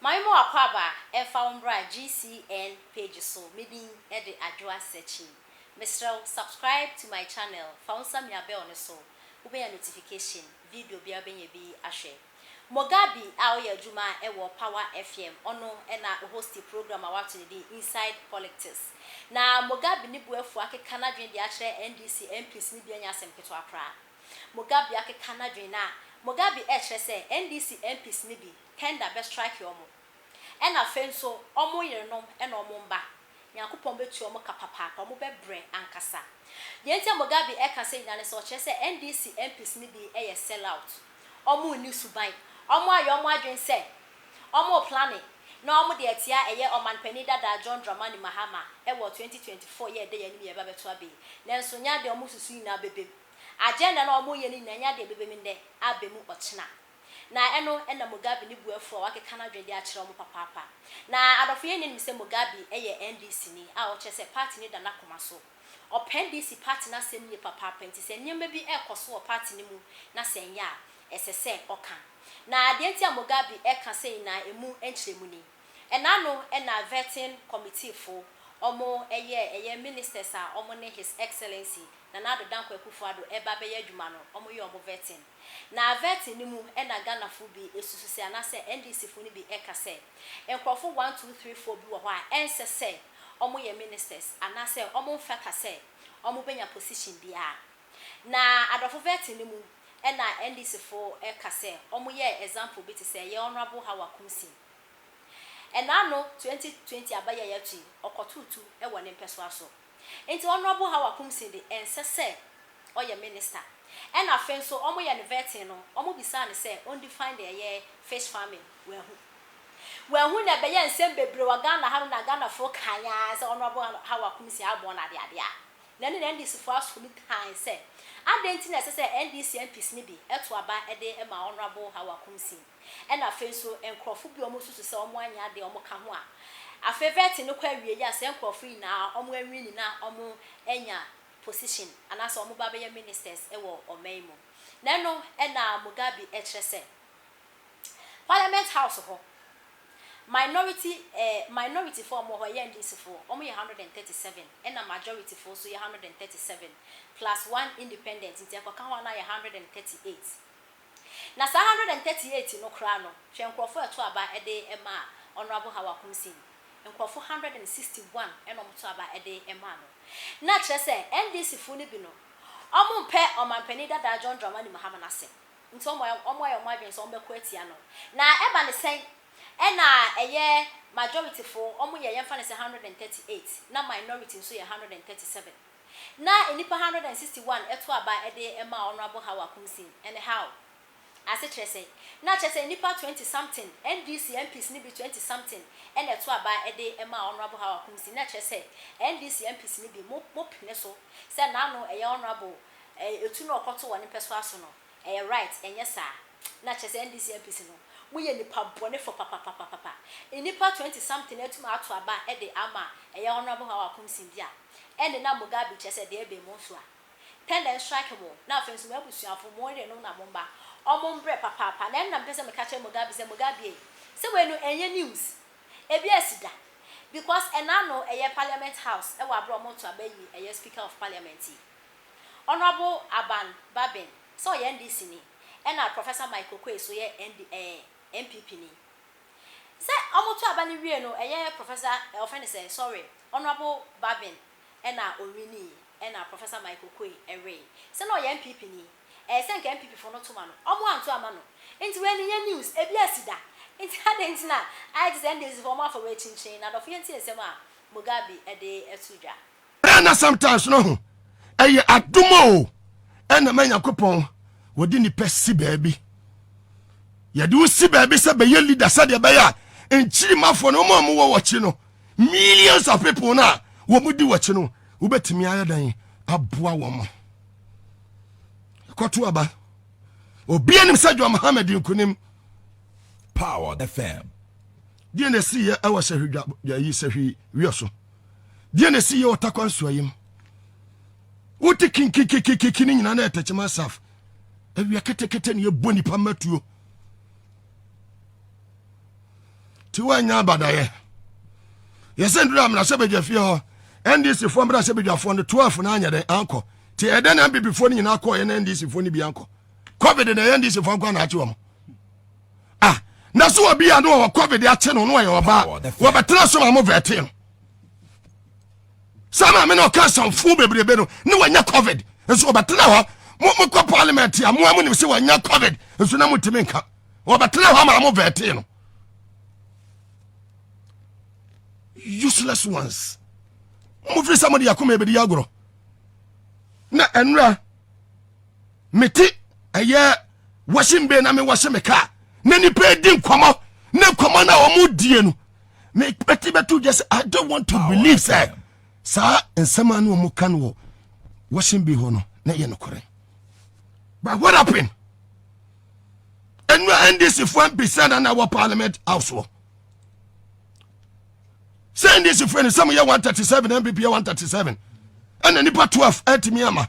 Maame mo akɔ aba ɛmfa wo mbra GCN page so me din ɛde Adwoa Searching mesrɛ wo subscribe to my channel fa wo nsa mia bell no so wo bɛnya notification video biara wobɛnya bi ahwɛ Mogabi a ɔyɛ adwuma ɛwɔ power FM ɔno ɛna hosti program a wato ne din inside polictics na Mogabi ne boafua akeka nadwene de akyerɛ NDC MPs no bi ɛnyɛ asɛm ketewa koraa Mogabi akeka nadwene na Mogabi ɛkyerɛ sɛ NDC MPs no bi tender bɛ strike wɔn, ɛna afei nso wɔn yerenom ɛna wɔn mma, Nyankopɔn bɛtua wɔn ka papaapa, wɔn bɛ brɛ ankasa. Deɛ nti a Mugabe ɛka sɛi nyinaa ne sɛ, ɔkyerɛ sɛ NDC MPs no bi ɛyɛ sell out, wɔn nni suban, wɔn ayɛ wɔn adwene sɛ wɔn replane na wɔn de atia ɛyɛ Ɔmanpanin dada John Dramani Mahama ɛwɔ 2024 yi a ɛda yɛn anim yi a ɛbɛbɛto aba yi, nanso ɛnyɛ adeɛ a wɔn susu nyinaa bɛbɛ mu, agenda no a wɔn reyɛ no nyinaa ɛnyɛ adeɛ a ɛbɛbɛ mu nnɛ, aba mu ɔkyena. Na ɛno na Mugabe ne bu afuw a wakeka no adwene de akyerɛw mo papaapa. Na adɔfo yɛnnyɛ nnim sɛ Mugabe yɛ NDC ni a ɔkyerɛ sɛ party no da n'akoma so. Ɔpɛ NDC party no asɛm yie papaapa nti sɛ nneɛma bi rekɔ so wɔ party no mu na sɛ ɛnyɛ a ɛsɛ sɛ ɔka. Na deɛ nti a Mugabe reka sɛ nyinaa ɛmu nkyerɛmu ni. Ɛna ano na Vetting Committee fo wɔn yɛ ɛyɛ ministers a wɔn ne His Excellency Nana Addo Dankwa Akufo-Addo reba abɛyɛ adwuma no wɔn yɛ wɔn vetting. Na vetting no mu na Ghanafo bi susu sɛ anaasɛ NDCfo no bi ka sɛ nkurɔfo one, two, three, four bi wɔ hɔ a ɛnsɛ sɛ wɔyɛ ministers anaasɛ wɔmfata sɛ wɔbenya position biara. Na adɔfo vetting no mu na NDCfo ka sɛ wɔyɛɛ example bi te sɛ yɛn Honourable Hawa Kumsing. Ɛnnaano twenty twenty aba yi a yɛato yi, ɔkɔtoo tu wɔ ne mpɛsoa so. Nti Honourable Hawa Kumsing de ɛnsɛ sɛ ɔyɛ minister. Ɛna afei nso wɔn yɛ no vetting no wɔn bisaa no sɛ ɔn define deɛ ɛyɛ fish farming wanhu. Wanhu na ɛbɛyɛ nsɛm bebree wɔ Ghana ha nom na Ghanafoɔ kan ara sɛ Honourable Hawa Kumsing abɔ wɔn adeadeɛ a na ɛne NDCfoɔ aso no tan sɛ adɛn nti na ɛsɛ sɛ NDC MPs no bi to aba de ma Honourable Hawa Kumsing. Ɛna afei nso nkorɔfo bi a ɔmo susu sɛ ɔmo anyɛ ade a ɔmo ka ho a afei vetting no kɔ awiei a saa nkorɔfo yi nyinaa ɔmo anwini na ɔmo anya position anaasɛ ɔmo ba bɛyɛ ministers wɔ ɔman mu. Na ɛno na Mugabe ɛkyerɛ sɛ parliament house hɔ minority ɛɛ minority foɔ a ɔmo wɔ hɔ ɛyɛ NDC foɔ ɔmo yɛ hundred and thirty seven ɛna majority foɔ nso yɛ hundred and thirty seven plus one independent nti ɛkɔka ho a na ayɛ hundred and thirty eight Na saa hundred and thirty eight no koraa no, hwɛ nkorɔfo a ɛto aba de maa Honourable Hawa Kumsin. Nkorɔfo hundred and sixty one na wɔto aba de maa no. Na kyerɛ sɛ, NDC fo no bi no, wɔmpɛ Ɔmanpanin dadaa John Dramani Mahama no asɛm. Nti wɔayɛ wɔn adwene sɛ wɔbɛko atia no. Na ɛba no sɛn na ɛyɛ majority fo wɔyɛ, yɛmfa no sɛ hundred and thirty eight, na minority nso yɛ hundred and thirty seven. na nnipa 161 ɛto aba ɛde maa Honourable Hawa Kumsin and how? Ase kyerɛ sɛ na kyerɛ sɛ nnipa 20 something, NDC MPs no bi 20 something ɛna ɛto aba ɛde maa Honourable Hawa Kumsin na kyerɛ sɛ NDC MPs no bi mo mo pene so sɛ n'ano ɛyɛ Honourable ɛɛ etu na ɔkɔto wɔn mpɛsoa so no ɛyɛ right ɛnyɛ saa? Na kyerɛ sɛ NDC MPs no mo yɛ nnipa bɔnefɔ papapapapapa nnipa 20 something atumi ato aba ɛde ama ɛyɛ Honourable Hawa Kumsin dear? Ɛnde na Mugabe kyerɛ sɛ deɛ ɛbɛn mo nso a, tɛndɛ nstrike mo, na afei nso mo abusuafo, mo yerenom na mo mma, wɔn mbrɛ papaapa. Na ɛno na mepɛ sɛ meka kyerɛ Mugabe sɛ, Mugabe ei, sɛ wei no ɛnyɛ news, ebi asi da, because ɛna ano ɛyɛ Parliament House ɛwɔ aberɛ a wɔn reto aba yi ɛyɛ Speaker of Parliament yi, Honourable Aban Babin, sɛ ɔyɛ NDC ni, ɛna Professor Mike Oquaye nso yɛ ND ɛɛ NPP ni. Sɛ ɔmo to aba no wie no ɛyɛ Professor eh wɔfrɛ no sɛn sorry Honourable Babin ɛna ɔwinii ɛna Professor Mike Okoe ɛwee. Sɛ na ɔyɛ NPP ni ɛyɛ sɛ nka NPP foɔ no to ma no ɔmo anto ama no nti wei no nyɛ news ebi asi da nti adɛn nti na ayɛ te sɛ NDC foɔ ɔmo afa wei kyinkyin na adɔfo yɛntie nsɛm a Mugabe ɛde ɛto dwa. ɛna sometimes no ho ɛyɛ adom o ɛna ma nyankopɔn wɔde nipa si baabi yɛde wo si baabi sɛ bɛyɛ leader sɛdeɛ ɛbɛyɛ a nkyirimafoɔ no ɔma ɔmo wɔ wɔkye no millions of people no a wɔn di wɔkye no wobɛtumi ayɛ dan aboa wɔn ɛkɔto aba obi anim sɛ John Mohammed nkunim Powered FM deɛ na ɛsi yɛ ɛwɔ sɛ hwedwa yɛyi sɛ hwi wiɛ so deɛ na ɛsi yɛ wɔ takwa nsuo yim wote kinkikikiki ne nyinaa na ɛtɛkyɛma saf awia ketekete ne yɛbɔ nipa mmatuo ti woanya abadayɛ yɛsɛ nduru amena sɛ bɛgya fie hɔ ndc foɔ mmra sɛ bɛdwafoɔ no 12 no anyɛ dɛn ankɔ nti ɛdɛn na mpp foɔ no nyinaa kɔɔ yɛ na ndc foɔ no bi ankɔ covid na ɛyɛ ndc foɔ nkɔ anaakye wɔ mo ah na so obi a no wɔ covid akye no no ɔyɛ ɔbaa wɔbɛtena so ma mo vɛte no saa maame na ɔka asamfo bebrebe no ne wɔnyɛ covid nso wɔbɛtena hɔ mo mokɔ parliament a moa mo nim sɛ wɔnyɛ covid nso na motumi nka wɔbɛtena hɔ ma mo vɛte no useless ones mofiri sɛ mode akoma ɛbɛdi agorɔ na ɛnora mete ɛyɛ washing bay na mewɔhye me kaa na nipa edi nkɔmɔ ne nkɔmɔ na wɔn die no mepɛte bɛto gya sɛ i don't want to believe sɛ saa nsɛm a na wɔn ka no wɔ washing bay hɔ no na ɛyɛ nokorɛ but what happened ɛnu a ndc foɔ mpisa na na wɔ parliament house wɔ sɛ ndc foɔ no sɛ mo yɛ one thirty seven npp yɛ one thirty seven ɛna nipa twelve ɛtumi ama.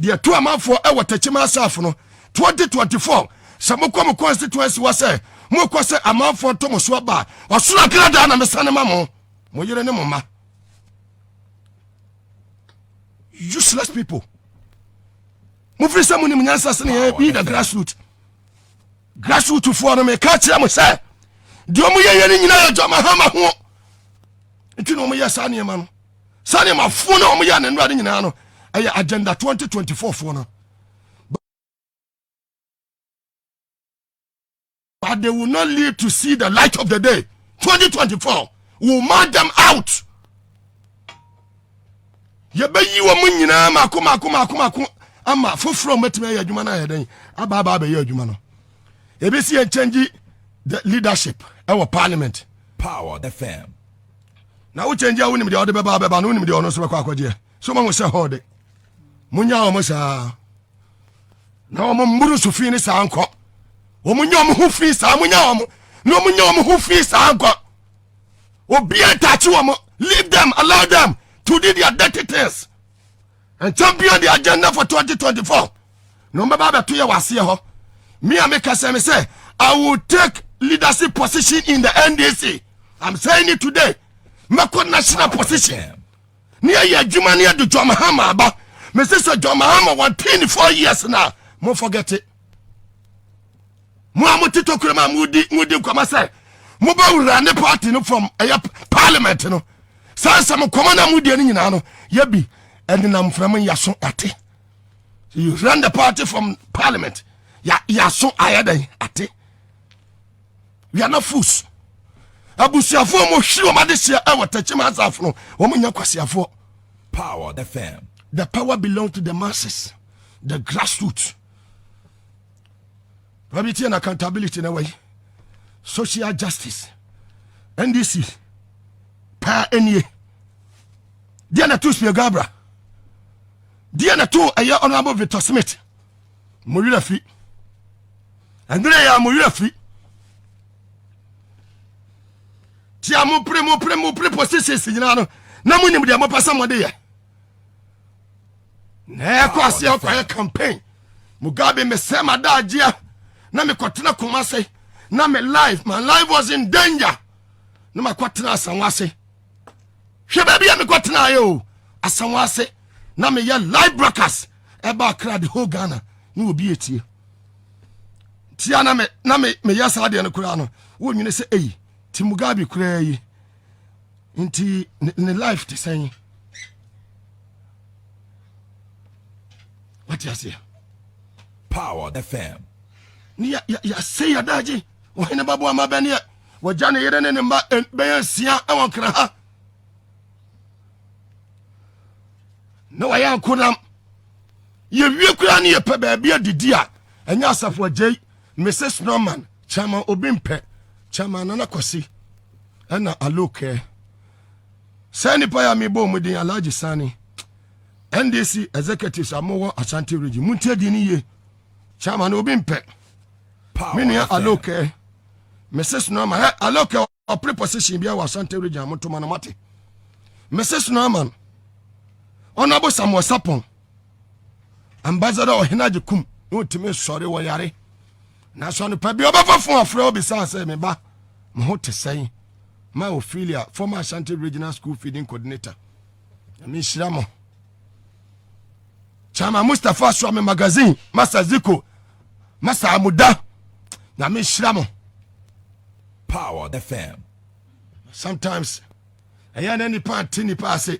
deɛ ɛto amanfoɔ ɛwɔ Techiman Asafo no 2024 sɛ mokɔ mo constituency hɔ sɛ mokɔ sɛ amanfoɔ nto mo so aba a ɔsoro akradaa na mesane ma mo mo yere ne mo mma useless people mofiri sɛ monim nyansa sene yɛ bi the grassroot grassroot foɔ no meka kyerɛ mo sɛ deɛ ɔmo yɛyɛ no nyina yɛ dwama hama ho nti na ɔmo yɛ saa nneɛma no saa nneɛma foɔ no a wɔyɛ ne nnora no nyinaa no ɛyɛ agenda 2024 foɔ no but they will not live to see the light of the day 2024 will mark them out yɛbɛyi wɔ mu nyinaa mako mako mako mako ama foforɔ mmatumi ayɛ adwuma no ayɛ dɛn aba aba abɛyɛ adwuma no yɛbɛsi yɛn kyɛngyi the leadership ɛwɔ parliament power fm na wo kyɛngye a wonim deɛ ɔde bɛba bɛba no wonim deɛ ɔno nso bɛkɔ akɔgyeɛ so mahu sɛ hɔ de monya wɔn saa na wɔn mmuru so fi ne saa nkɔ wɔn nya wɔn ho fi saa monya wɔn na wɔn nya wɔn ho fi saa nkɔ obi a ntaakye wɔn leave them allow them to do their dirty things ɛntɛm bia de agenda for 2024 na ɔmbɛba abɛto yɛ wɔ aseɛ hɔ me a meka sɛ me sɛ i will take leadership position in the ndc i'm saying it today mɛkɔ national position ne yɛyɛ adwuma ne yɛde john mahama aba mese sɛ john mahama wɔntee ne four years no a mo forget it mo a mote tokuro mu a modi modi nkɔmɔ sɛ mobɛwura ne party no fam ɛyɛ parliament no saa nsɛm nkɔmɔ na modie no nyinaa no yɛbi ɛdenam mframa yɛaso ate you run the party from parliament yɛaso ayɛ dɛn ate we are not fools abusuafoɔ mu hwere wɔn adehyɛ ɛwɔ tɛkyem asafo no wɔn nyɛ kwasiafoɔ power the fam the power belong to the masses the grassroots Probity and accountability na wɔyi social justice ndc paa nie deɛ na to spia gabra deɛ na to ɛyɛ honorable victor smith mo werɛ fi ɛnere yɛ a mo werɛ fi nti a mopere mopere mopere positions nyinaa no na monim deɛ mopɛ sɛ mode yɛ na ɛkɔ aseɛ ɔkɔyɛ campaign mugabe mesɛ madaagyea na mekɔtena koma se na me life my life was in danger na makɔtena asanwa ase hwɛ baabi a mekɔtenaeɛ o asanwa ase na meyɛ live broadcast ɛba akra the whole ghana ne obi etie tia na me na me meyɛ saa deɛ no koraa no wonyini sɛ eyi ti mugabe koraa yi nti ne life te sɛn wate aseɛ power fm ne yɛsɛ yɛdagye ɔhene baboa ma bɛneɛ wɔgya ne yere ne ne mma bɛyɛ nsia wɔ nkra ha na wɔyɛ ankonam yɛwie koraa ne yɛpɛ baabi adidi a ɛnyɛ asafo agyei Mrs. Norman, Chairman Obi Mpɛ, Chairman Nana Kwasi, ɛna Alokɛ. Saa nipa yɛ a mebɔ wɔn din Alhaji Sani, NDC executives a mowɔ Ashanti region. Montie din no yie. Chairman Obi Mpɛ, me nua Alokɛ, Mrs. Norman, Alokɛ. ɔpere position biara wɔ asante region motoma no mate mrs norman ɔnabo samuel sapon ambassador ɔhene agye kum na ɔtumi sɔre wɔ yare nanso anopa bi ɔbɛfa fo afrɛ ɔbisaa sɛ me ba mo ho te sɛn ma ophelia former ashanti regional school feeding coordinator nyame nhyira mo chama mustapha suame magazine masa ziko ma saa mo da nyame nhyira mo power the fam sometimes ɛyɛ na nipa nte nipa ase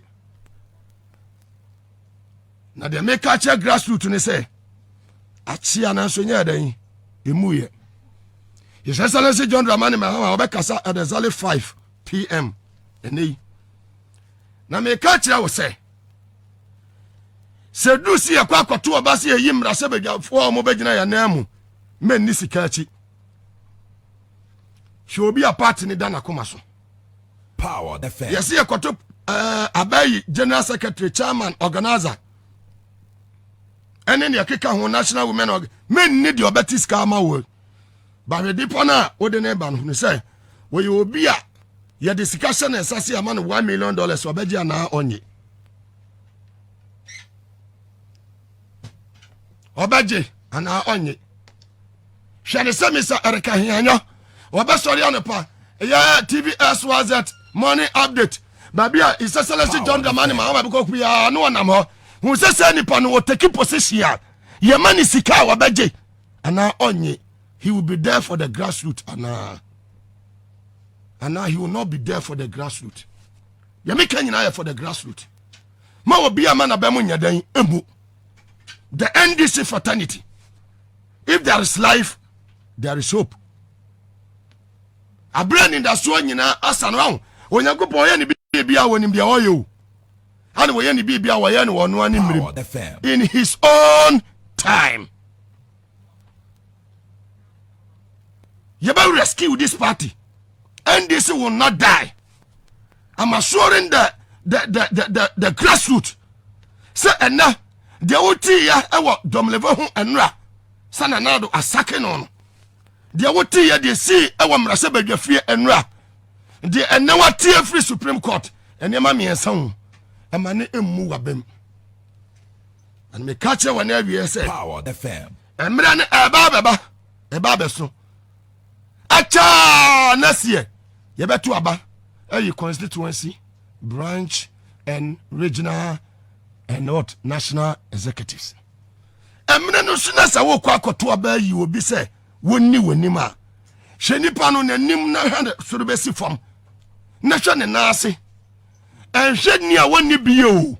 na deɛ meka kyerɛ grassroot ne sɛ akyea nanso nyɛ dɛn ɛmu yɛ his excellency john dramani mahama wɔbɛkasa at exactly 5 pm ɛnɛ yi na meka kyerɛ wo sɛ sɛ duru si yɛkɔ akɔto ɔba sɛ yɛyi mmara sɛ badwafoɔ a wɔbɛgyina yɛn nan mu mɛnni sika akyi hwɛ obi a party ne da n'akoma so yɛse yɛkɔto uh, abayi general secretary chairman organizer ɛne deɛ ɛkeka ho national women org mɛnni deɛ ɔbɛte sika ama wɔ Bahwɛde pa no a wode no reba no, hunu sɛ wɔyɛ obi a yɛde sika hyɛ ne nsa se ama no one million dollars ɔbɛgye anaa ɔnye ɔbɛgye anaa ɔnye hwɛ ne sɛ mesa ɛreka heanyɔ wɔbɛsɔre anɔpa ɛyɛ tv swz morning update baabi a isɛsɛlɛsi john dramani ma wɔma bɛkɔ kuyaa ne wɔnam hɔ hu sɛ sɛ nipa no wɔtaki position a yɛma ne sika a wɔbɛgye anaa ɔnye he will be there for the grassroot anaa anaa he will not be there for the grassroot deɛ meka nyinaa yɛ for the grassroot ma obi ama na bɛmo nyɛ dɛn mmu the ndc fraternity if there is life there is hope aberɛ anidasoɔ nyinaa asa no aho onyankopɔn ɔyɛ ne biribi a wɔnim deɛ ɔyɛ o Ana wɔyɛ ne biribi a wɔyɛ no wɔn ara ne mmerem in his own time. Yɛbɛ rescue this party. NDC will not die. I'm assuring the the the the the, the grassroots. Sɛ ɛnɛ deɛ wotiiɛ ɛwɔ dɔmlɛvɛ ho ɛnora sɛ nanado asake no no deɛ woteeɛ deɛ sii wɔ mmarasa badwa fie nnora deɛ ɛnɛ wateɛ firi supreme court nneɛma mmiɛnsa ho ɛma ne mmu wabam ɛna meka kyerɛ wɔ ne awieɛ sɛ mmerɛ no ɛba bɛba ɛba bɛso ɛkyɛa na seɛ yɛbɛto aba ɛyi constituency branch and regional and what national executives Ɛmene no nso na sɛ wokɔ akɔto aba ayi obi sɛ wɔnni w'anim a hyɛ nipa no n'anim na hwɛ ne soro bɛsi fam na hwɛ ne nan ase ɛnhwɛ ni a wɔnni bie o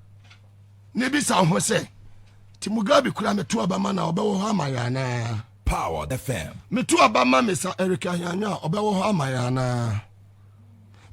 na ebisa ho sɛ ti mugabe kura meto aba ma na ɔbɛwɔ hɔ ama yɛn anaa power fm meto aba ma mesa erika hyanwa ɔbɛwɔ hɔ ama yɛn anaa